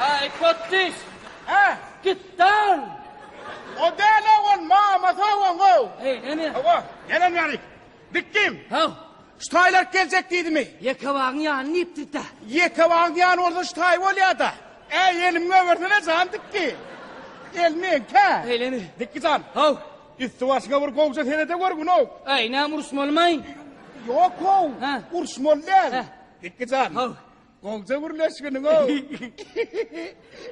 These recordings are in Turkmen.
Haý potdiş! Hä? Git dan! O däl-ow, ol mamasy hawaňow. Heý, näme? Hawa, nädem ýaly? Dikdim. Haw. Şu taýlar geljek diýdimi? Ýekebagyň ýany diýipdik-dä. Ýekebagyň ýany bolsa şu taý bolýa-da. Äý, elimi goýbersene jan dikki. El meňkä. Eýlemi? Dikki jan. Haw. Üsti-başyňa bir gowja serede gör, gün-ow. Äý, näme uruşmalymy? Ýok-ow, uruşmaly däl. Dikki jan. Haw. Golja gürleşginiň ow.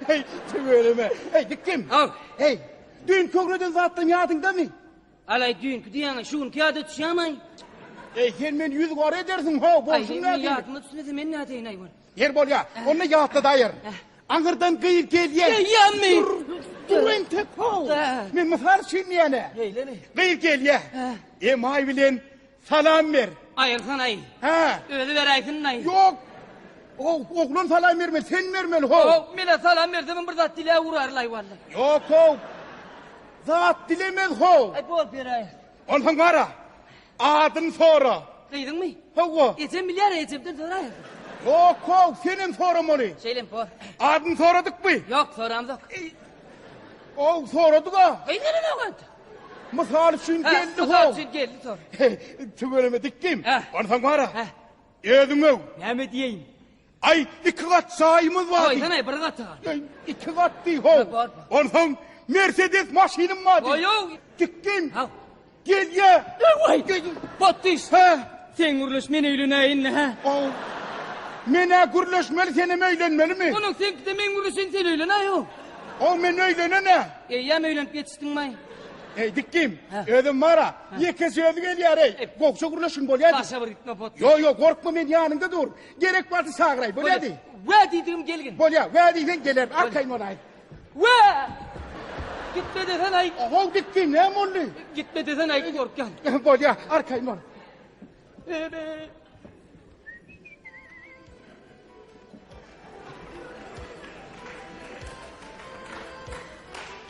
Heý, tüweleme. Heý, dikdim. Aw. Heý, düýn kögreden zatdan ýadyňdamy? Alaý düýnki diýýäňä şu günki ýada düşýämaý. Eý, sen men ýüz gara edersiň, ho, bolşuň nädip? Aý, ýadyma düşmese men nädeýin aý ol. Ýer bolýa. Onda ýatladayar. Aňyrdan gyz gelýä. Gelýämi? Dur entek ho. Men mysal üçin diýýän-ä. Gyz gelýä. Emaý bilen Salam ber. Aýyrsan aý. Hä. Özi beräýsinnaý. Ýok. Ow, oglan salam bermeli, sen bermeli, how. Ow, men-ä salam bersegem bir zat diläp urarlaý walla. Ýok, how. Zat dilemez, how. Aý, bor, beräýer. Onsoň gara. Adyny sora. Gyzyňmy? Hawa. Ejem bilýär, ejemden soraýa. Ýok, how, senem soramaly. Şeýlem bor. Adyny soradykmy? Ýok, soramzok. Ow, soradyk-a. Eý, neneň oglandy? Mysal üçin Hä, geldi mysal ho. üçin geldi tor. Tüweleme dikdim. Hä. Onsoň bara. Hä. Özüň öw. Näme diýeýin? Aý, iki gat jaýymyz bar. Aýdan aý bir gaty bar. Aý, iki gat diý ho. Hä, bar, bar. Onsoň Mercedes maşynym bar. diý. Goýaw. Dikdim. Haw. Gelýä. Ewaý. Geldim. Botdyş. Hä. Sen gürleş men öýlenäýin indi hä. Ow. Men-ä gürleşmeli senem öýlenmelimi? Onuň seňkide men gürleşeýin sen öýlenäý ow. Ow men öýlenen-ä. Eýýäm öýlenip ýetişdiňmaý. Eý dikgim. Hä. Özem bar-a. Ýeke sözi gelýär-eý. Ep. Gowşa gürleşgin bolýady. Başga bir gitme potduk. Ýo ýo gorkma men ýanyňda dur. Gerek bolsa çagyraý bolýady. Wä diýdigim gelgin. Bolýa wä diýseň gelerin arkaýyn bolaýyn. We! Gitme desen aýt. How gitdi, näme boldy? Gitme desen aýt, gorkýan. Bolýa, arkaýyn bol. Bebe.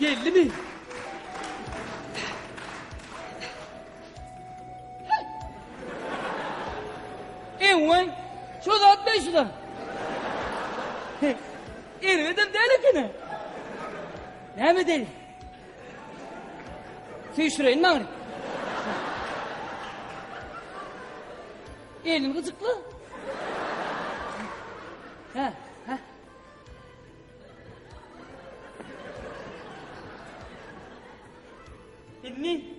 Geldi mi? Ewen, şu zat ne şu da? Erbedem däl ekeni. Näme däl? Süýşüreýin maňry. Elin gyjykly. Hä, hä. Elini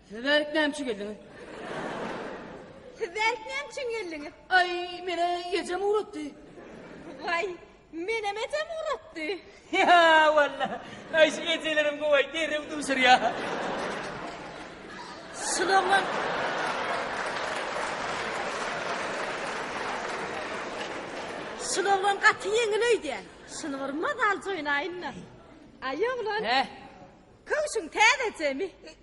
Siz bärik näme üçin geldiňiz? Siz bärik näme üçin geldiňiz? Aý, meni ejem ugratdy. Waý, menem ejem ugratdy. Ýa, walla. Aý, şu ejeleriň gowy, derrew duşurýar. Şul oglan Şul oglan gaty ýeňil öýdýän. Şuny bir mazaljy oýnaýyn-da. Aý, oglan. Hä? Köwşüň täzejemi?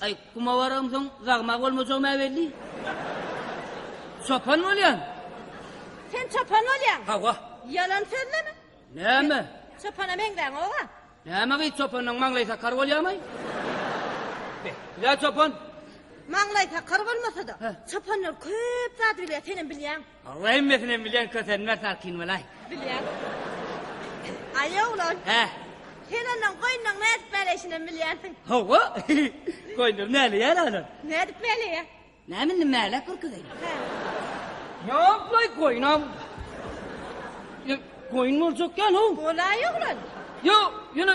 Aý, guma baramsoň zagma bolmajagym-ä belli. Çopan bolýan. Sen çopan bolýaň? Hawa. Ýalan sözleme. Näme? Çopana meňzäň-ow-a. Näme gyz çopandan maňlaý sakar bolýamy? Be, ýa çopan? Maňlaý sakar bolmasa-da, çopanlar köp zady bilýär, senem bilýäň. Allah hemmesinem bilýän kösenmez salkyn bolaý. Bilýän. Aýa oglan. Hä. Sen ondan goýnuň nädip mäleýşinem bilýänsiň. Hawa. Goýunlar mäleýär alan. Nädip mäleýär? Näme indi mäläp urkuzyň. Hä. Ýok laý goýunam. Ýa goýun boljakýan-ow. Bolaý oglan. Ýok, ýöne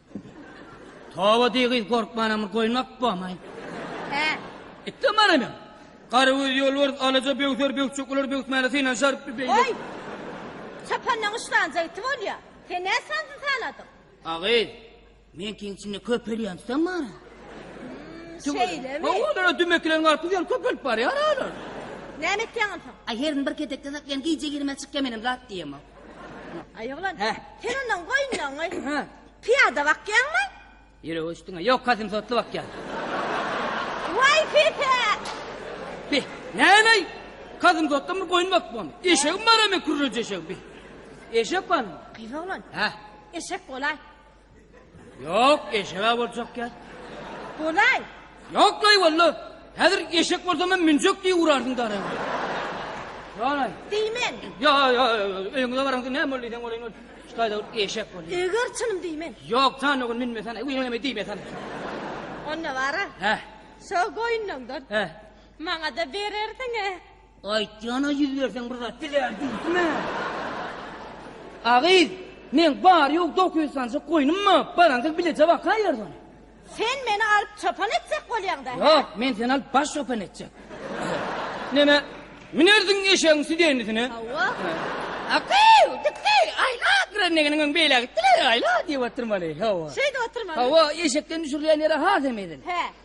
Toba diý gyz gorkmanamy goýmak bomaý. Hä. Itde mara men. Garagöz ýolbars alaja böwser bökjek olar böwsmäne synanşar bir beýle. Oý. Çapandan uçlanja iti bolýa. Sen nä sandy sanadyň. A gyz. Meňkiň içinde köpelýän tutan mara. Şeýlemi. Hawa olara dümekileň galyp gidýär köpelip barýar alar. Näme etýäň onsoň. Aý herin bir kedekde saklan gije girmez çykýa menem zat diýemok. Aý oglan, sen ondan goýunlaňňy. Pyýada bakýaňmy? Ýürek öçdüňä. Ýok, kasimsotly bakýan. Waý pite! Bi, näleý? Kasimsotdan bir goýun bakyp bolmy? Eşegim bar hem kürreje eşegim bi. Eşek barmy? Gyz oglan. Hä? Eşek bolaý. Ýok, eşege boljak ýaly. Bolaý. Ýok, gaý walla. Häzir eşek bolsam hem münjek diýip urardyň dara. Ýa-da. Diýmen. Ýa, ýa, öýüňe baraňda näme boldy diýseň bolaýyn ol. Şu taýda eşek bol. Eger çynym diýmen. Ýok, jan öňün münmesäne, öňüme diýmesäne. Onda bara. Hä. Şo goýunlaňdan. Hä. Maňa-da berersiň-ä. Aýtýana ýüz berseň bir zat bilýän diýdimä. A gyz, meň bary-ýogy dokuz ýüz sanjyk goýnum bar, baransyz bileje baka ýerde ony. Sen meni alyp çopan etjek bolýaň-da, hä? Ýok, men seni alyp baş çopan etjek. Näme, münersiň eşegiň südenisine? Hawa. A gyz, gitdi, aýla, greneginiň öň beýlä gitdi-le, aýla diýip otyrmaly, hawa. Şeýdip otyrmaly. Hawa, eşekden düşürilýän ýere has hem edil. Hä.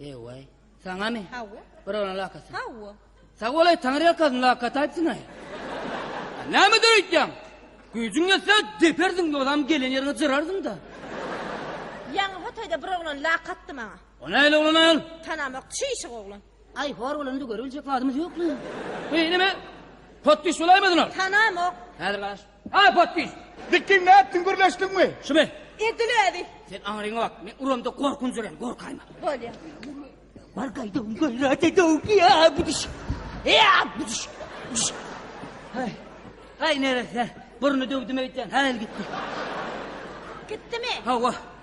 Ewaý. Saňamy? Hawa. Birolan lakasy. Hawa. Sag bolaý, Taňry ýalkasyn, lakat aýtsyň-aý. Näme döreýtýäň? Güýjüň ýetse, depersiň, ýogsam gelen ýeriňe jyrarsyň-da. Ýaňy hotaýda bir oglan lakatdy maňa. O nähili oglan aýal? Tanamak, çişik oglan. Aý, hor bolanda görübiljek zadymyz ýokmy? Eý, neme? Potpiş bolaýmasyn ol? Tanamok. Häzir garaş. Aý podpis. Dikin nätdiň gürleşdiňmi? Şu men. Edil özi. Sen aňryňa bak. Men uramda gorkunç ölen gorkaýma. Bolýa. Bar gaýda un gaýrat edok ýa buduş. Ýa buduş. Buduş. Aý. Aý nerese. Burny döwdüm öýtýän. Häl gitdi. Gitdimi? Hawa.